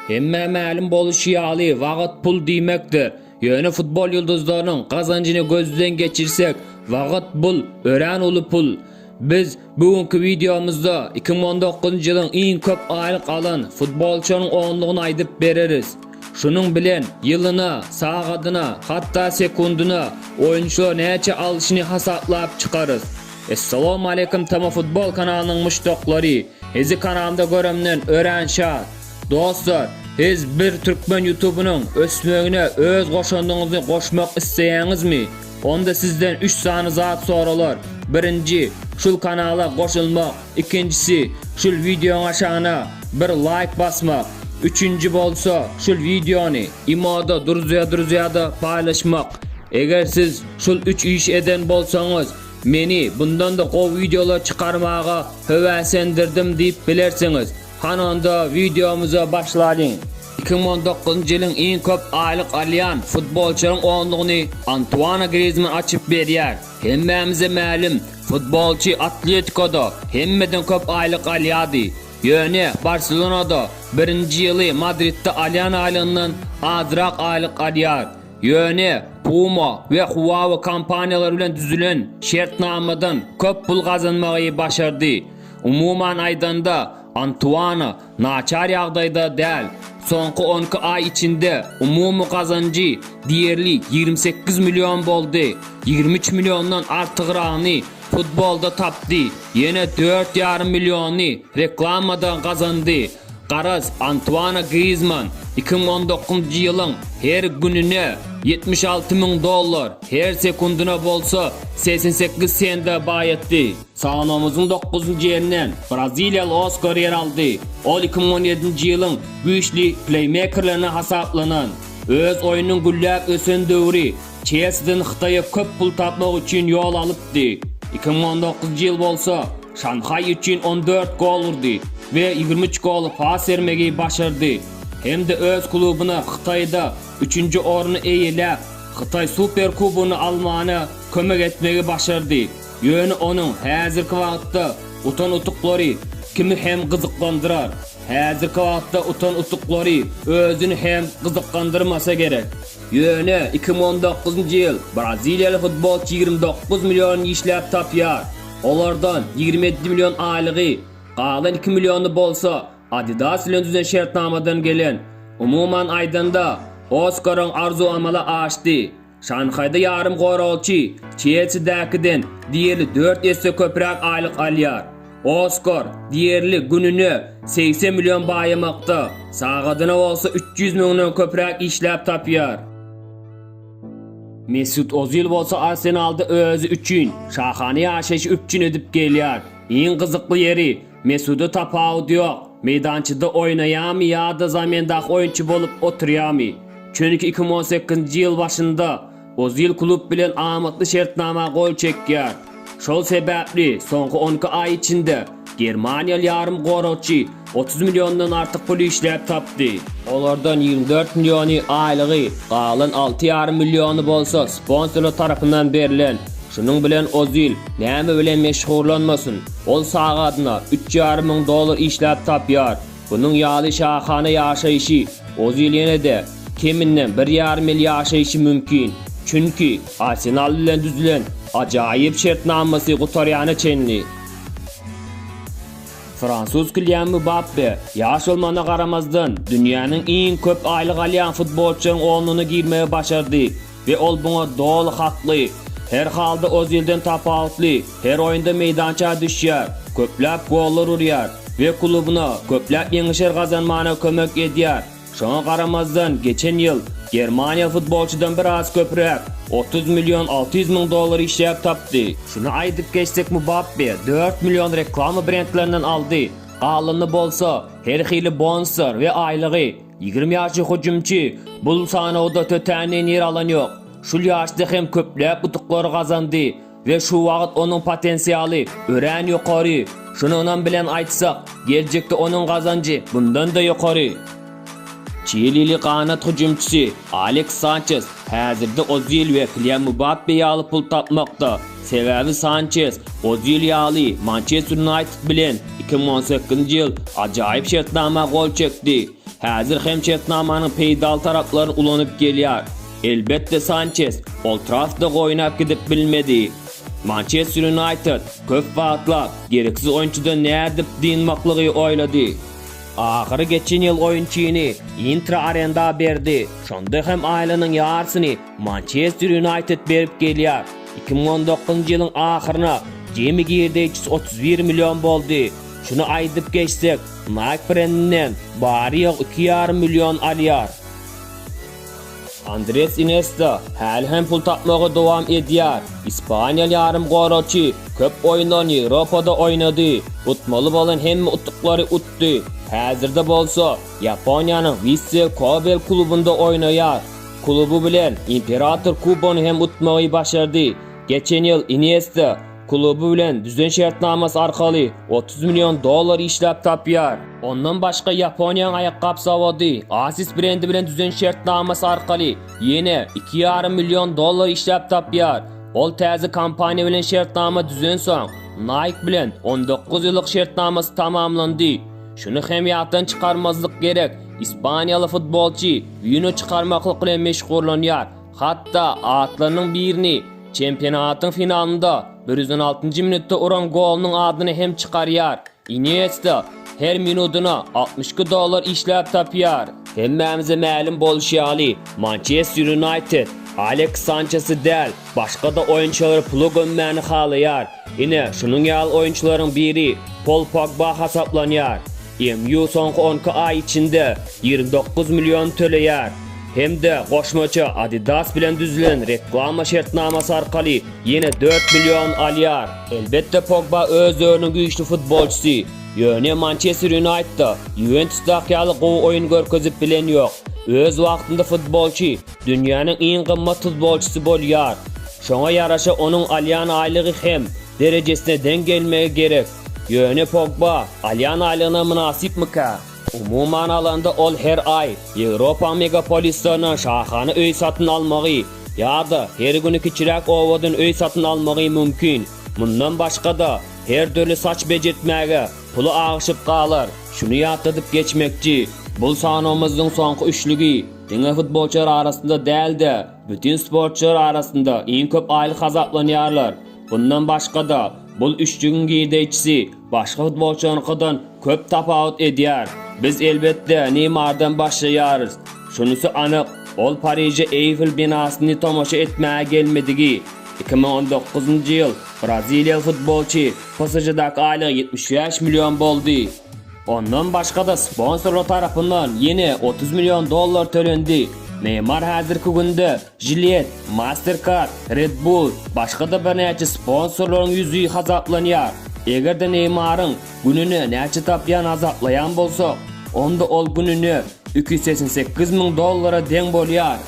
Hemmä mälim boluşy ýaly, wagyt pul diýmekdir. Ýöne futbol ýyldyzlarynyň gazanjyny gözden geçirsek, wagyt bul, örän uly pul. Biz Bu günki wideomyzda iki müň on dokuzynjy ýylyň iň köp aýlyk alan futbolçynyň onlugyny aýdyp bereris. Şunuň bilen ýylyna, sagadyna, hatda sekundyna oýunçylar näçe alşyny hasaplap çykarys. Essalawmaleýkum Tama Futbol kanalynyň muşdaklary! Hizi kanalda göremden örän şat. Dostlar, hiz bir türkmen ýutubynyň ösmegine öz goşandyňyzy goşmak isleýäňizmi? Onda sizden üç sany zat soralar, birinji, şul kanala goşulmak, ikinjisi, şul wideoň aşagyna bir laýk basmak, üçünji bolsa, şul wideony. Imoda druzýa-druzýada paýlaşmak. Eger siz şul üç iş eden bolsaňyz, meni bundan-da gowy wideolar çykarmaga höwäsendirdim diýip bilersiňiz. Hany onda wideomyza başlalyň. Iki müň on dokuzynjy ýylyň iň köp aýlyk alýan futbolçylaryň onlugyny Antuana Grizman açyp berýär. Hemmämize mälim, futbolçy Atletikoda hemmeden köp aýlyk alýardy. Ýöne Barselonada birinji ýyly Madridde alýan aýlygyndan azrak aýlyk alýar. Ýöne Puma we Huawei kompaniýalary bilen düzülen şertnamadan köp pul gazanmagy başardy. Umuman aýdanda, Antuana naçar ýagdaýda däl. Soňky on iki aý içinde umumy gazanjy diýerli ýigrimi sekiz million boldy. Ýigrimi üç milliondan artygragyny futbolda tapdy, ýene dört ýarym milliony reklamada gazandy. Garaz, Antuana Griezmann iki müň on dokuzynjy ýylyň her gününe ýetmiş alty müň dollar, her sekundyna bolsa segsen sekiz sende baýatdy. Sanawymyzyň dokuzynjy ýerine braziliýaly Oskar ýer aldy. Ol iki müň on ýedinji ýylyň güýçli pleýmekerlerine hasaplanan. Öz oýnunyň gülläp ösen döwri Çelsiden Hytaýa köp pul tapmak üçin ýol alypdy. Iki müň on dokuzynjy ýyl bolsa Şanhaý üçin on dört gol urdy we ýigrimi üç goly pas bermegi başardy hem-de öz klubuna Hytaýda üçünji orny eýeläp, Hytaý Superkubogyny almana kömek etmegi başardy. Ýöne onuň häzirki wagtda utan-utuklary kimi hem gyzyklandyrar? Häzirki wagtda utan-utuklary özüni hem gyzyklandyrmasa gerek. Ýöne iki müň on dokuzynjy ýyl braziliýaly futbolçy ýigrimi dokuz million işläp tapýar. Olardan ýigrimi ýedi million aýlygy, galan iki milliony bolsa Adidas bilen düzen şertnamadan gelen. Umuman aýdanda, Oskaryň arzuw amala aşdy. Şanhaýda ýarym goragçy Çelsidäkiden diýerli dört esse köpräk aýlyk alýar. Oskar, diýerli, gününe segsen million baýamakda, sagadyna bolsa üç ýüz müňden köpräk işläp tapýar. Mesut Ozil bolsa Arsenalda özi üçin şahana ýaşaýşy üpjün edip gelýär. Iň gyzykly ýeri, Mesuda tapawut ýok, meýdançada oýnaýamy ýa-da zamendaky oýunçy bolup oturýamy. Çünki iki müň on sekizinji ýyl başynda Ozil klub bilen amatly şertnama gol çekýär. Şol sebäpli soňky on iki aý içinde germaniýaly ýarymgoragçy otuz milliondan artyk pul işläp tapdy. Olardan ýigrimi dört milliony aýlygy, galan alty ýarym milliony bolsa sponsorlar tarapyndan berlen. Şunuň bilen Ozil näme bilen meşgullanmasyn, ol sagadyna üç ýarym müň dollar işläp tapýar. Bunuň ýaly şahana ýaşaýşy Ozil ýene-de keminden bir ýarym ýyl ýaşaýşy mümkin. Çünki Arsenal bilen düzülen ajaýyp şertnamasy gutarýana çenli. Fransuz Kilian Mbappe ýaş bolmagyna garamazdan, dünýäniň iň köp aýlyk alýan futbolçylaryň onlugyna girmegi başardy. We ol buňa doly hakly. Her halda Ozilden tapawutly, her oýunda meýdança düşýär, köpläp gollar urýar we klubyna köpläp ýeňişer gazanmana kömek edýär. Şoňa garamazdan, geçen ýyl germaniýaly futbolçydan biraz köpräk, otuz million alty ýüz müň dollar işläp tapdy. Şuny aýdyp geçsek Mbappe dört million reklama brendlerinden aldy, galanyny bolsa her hili bonuslar we aýlygy. Ýigrimi ýaşly hüjümçi bul sanawda tötänden ýer alan ýok. Şul ýaşda hem köpläp utuklary gazandy we şu wagt onuň potensialy örän ýokary. Şuny ynam bilen aýtsak, geljekde onuň gazanjy bundan-da ýokary. Çilili ganat hüjümçisi Aleks Sançes häzirde Ozil we Kylian Mbappe ýaly pul tapmakda. Sebäbi Sançes, Ozil ýaly, Mançester Ýunaýted bilen iki müň on sekizinji ýyl ajaýyp şertnama gol çekdi. Häzir hem şertnamanyň peýdaly taraplaryny ulanyp gelýär. Elbetde, Sançes Old Traffda oýnap gidip bilmedi. Mançester Ýunaýted köp wagtlap gereksiz oýunçydan nädip dynmaklygy oýlady. Ahyry geçen ýyl oýunçyny Intra arenda berdi, şonda hem aýlynyň ýarysyny Mançester Ýunaýted berip gelýär. 2019-njy ýylyň ahyryna jemi girdeýjisi 31 million boldy. Şuny aýdyp geçsek, Nike brendinden bary-ýogy iki ýarym million alýar. Andres Inesta häli hem pul tapmagy dowam edýär. Ispaniýaly ýarymgoragçy köp oýunlaryny Ýewropada oýnady, utmaly bolan hemme utuklary utdy. Häzirde bolsa Ýaponiýanyň Wisse Kobe klubunda oýnaýar. Kluby bilen Imperator kubogyny hem utmagy başardy. Geçen ýyl Iniesta kluby bilen düzen şertnamasy arkaly otuz million dollar işläp tapýar. Ondan başga Ýaponiýanyň aýakgap zawody Asics brendi bilen düzen şertnamasy arkaly ýene iki ýarym million dollar işläp tapýar. Ol täze kompaniýa bilen şertnama düzensoň, Nike bilen on dokuz ýyllyk şertnamasy tamamlandy. Şuny hem ýatdan çykarmazlyk gerek, Ispaniýaly futbolçy wino çykarmaklyk bilen meşgullanýar, hatda atlarynyň birini çempionatyň finalynda bir ýüz on altynjy minutda uran golunyň adyny hem çykarýar. Iniesta her minudyna altmyş iki dollar işläp tapýar. Hemmämize mälim bolşy ýaly, Mançester Ýunaýted Aleks Sançesi däl, Başga-da oýunçylar pula gömmäni halaýar. Ine, şunuň ýaly oýunçylaryň biri Pol Pogba hasaplanýar. MU soňky on iki aý içinde ýigrimi dokuz million töleýär hem-de goşmaça Adidas bilen düzülen reklama şertnamasy arkaly ýene dört million alýar. Elbetde, Pogba öz döwrüniň güýçli futbolçysy, ýöne Mançester Ýunaýtda, Ýuwentusdaky ýaly gowy oýun görkezip bilen ýok. Öz wagtynda futbolçy Dünýäniň iň gymmat futbolçysy bolýar. Şoňa ýaraşa onuň alýan aýlygy hem derejesine deň gelmegi gerek. Ýöne Pogba alýan aýlygyna mynasypmyka? Umuman alanda ol her aý Ýewropaň megapolislerinden şahana öý satyn almagy ýa-da her güni kiçiräk obadan öý satyn almagy mümkin. Mundan başga-da, her dürli saç bejertmäge puly agyşyp galar. Şuny ýatladyp geçmekçi, bul sanawymyzyň soňky üçlügi. Diňe futbolçylar arasynda däl-de, bütin sportçylar arasynda iň köp aýlyk hasaplanýarlar. Bundan başga-da, bul üçjügiň girdeýçisi başga futbolçylaryňkydan köp tapawut edýär. Biz, elbetde, Neýmardan başlaýarys. Şunysy anyk, ol Pariže Eýfel binasyny tomaşa etmäge gelmedigi. Iki müň on dokuzynjy ýyl braziliýaly futbolçy PSŽ-daky aýlygy ýetmiş bäş million boldy. Ondan başga-da sponsorlar tarapyndan ýene otuz million dollar tölendi. Neýmar häzirki günde Gillette, Mastercard, Red Bull, başga-da birnäçe sponsorlaryň ýüzi hasaplanýar. Eger-de Neýmaryň gününe näçe tapýany hasaplaýan bolsak, onda ol gününe iki ýüz segsen sekiz müň dollara deň bolýar.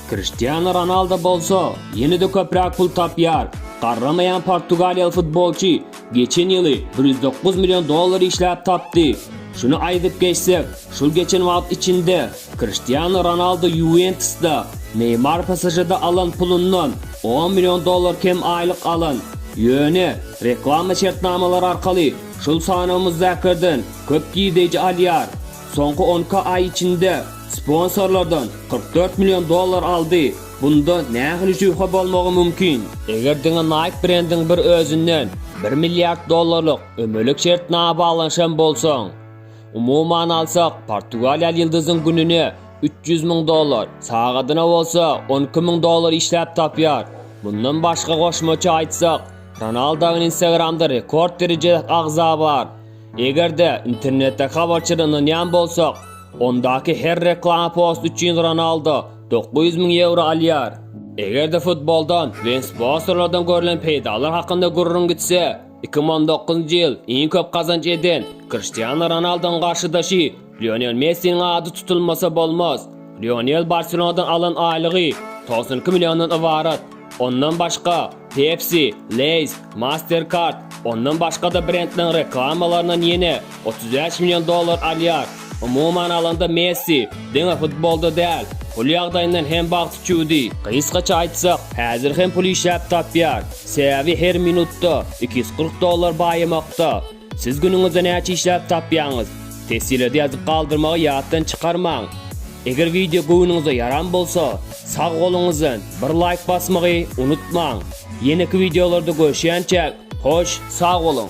Kriştianu Ronaldo bolsa ýene-de köpräk pul tapýar. Garramaýan portugaliýaly futbolçy Geçen ýyly bir ýüz dokuz million dollar işläp tapdy. Şuny aýdyp geçsek, şol geçen wagt içinde Kriştianu Ronaldu Ýuwentusda, Neýmar PSŽ-de alan pulundan on million dollar kem aýlyk alan. Ýöne, reklama şertnamalary arkaly şol sanawymyzdakylardan köp girdeýji alýar. Soňky on iki aý içinde sponsorlardan kyrk dört million dollar aldy. Bunda nähili şübhe bolmagy mümkin? Eger diňe Nike brendiň bir özünden bir milliard dollarlyk ömürlik şertnama baglanyşan bolsaň, umuman alsak, portugaliýaly ýyldyzyň gününe üç ýüz müň dollar, sagadyna bolsa on iki müň dollar işläp tapýar. Mundan başga goşmaça aýtsak, Ronaldoň Instagramda rekord derejedäki agza bar. Eger-de internetdäki habarçylara ynanýan bolsak, ondaky her reklama post üçin Ronaldo 900 müň ýewro alýar. Eger-de futboldan we sponsorlardan görlen peýdalar hakynda gürrüň gitse, 2019-njy ýyl iň köp gazanç eden Kriştianu Ronaldunyň garşydaşy Lionel Messiniň ady tutulmasa bolmaz. Lionel Barselonadan alan aýlygy 92 milliondan ybarat. Ondan başga, Pepsi, Lay's, Mastercard, ondan başga-da brendleriň reklamalaryndan ýene otuz bäş million dollar alýar. Umuman alanda Messi diňe futbolda däl, pul ýagdaýyndan hem bagt üçüdi. Gysgaça aýtsak, häzir hem pul işläp tapýar. Sebäbi her minutda iki ýüz kyrk dollar baýamakda. Siz günüňizde näçe işläp tapýaňyz? Tessilede ýazyp galdyrmagy ýatdan çykarmaň! Eger wideo göwnüňize ýaran bolsa, sag goluňyzdan bir laýk basmagy unutmaň! Ýeneki wideolarda görşýänçäk, hoş, sag boluň!